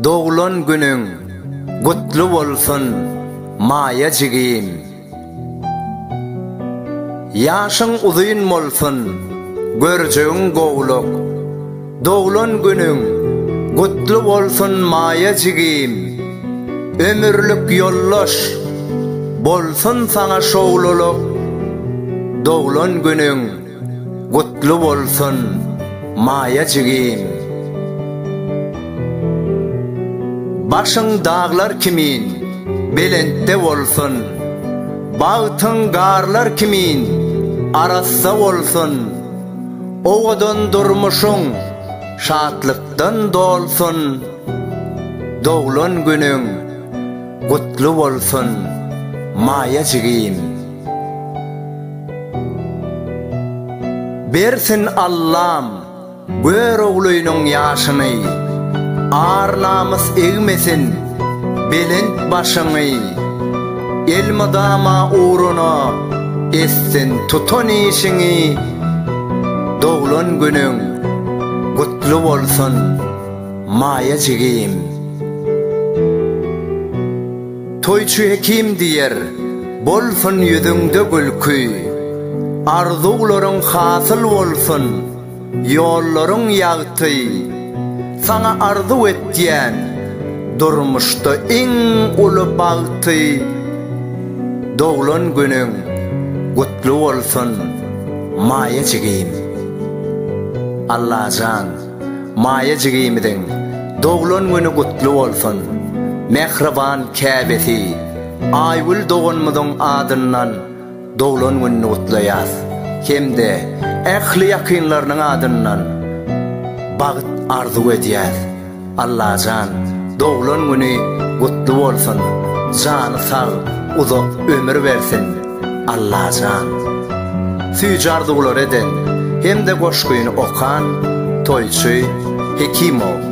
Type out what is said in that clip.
Doglan günüň gutly bolsun Maýa jigim. Ýaşyň uzyn bolsun, görjegiň gowluk, Doglan günüň gutly bolsun Maýa jigim! Ömürlik ýoldaş bolsun saňa şowlulyk! Doglan günüň gutly bolsun Maýa jigim! Başyň daglar kimin belentde bolsun! Bagtyň garlar kimin arassa bolsun! Owadan durmuşyň şatlykdan dolsun, doglan günüň gutly bolsun, Maýa jigim! Bersin Allam Göroglynyň ýaşyny, ar-namys egmesin belent başyňy, elmydama ugruna etsin tutan işiňi, Doglan günüň gutly bolsun Maýa jigim. Toýçy Hekim diýer, bolsun ýüzüňde gülki, Arzuwlaryň hasyl bolsun, ýollaryň ýagty, Saňa arzuw etýän, durmuşda iň uly bagty. Doglan günüň gutly bolsun Maýa jigim. Allajan Maýa jigimiziň doglan güni gutly bolsun. Mähriban käbesi Aýgül doganymyzyň adyndan doglan gününi gutlaýas hem-de ähli ýakynlarynyň adyndan bagyt arzuw edýäs. Allajan doglan güni gutly bolsun jany sag uzak ömür bersin Allajan süýji arzuwlary eden hemde goşgyny okan toýçy Hekimow.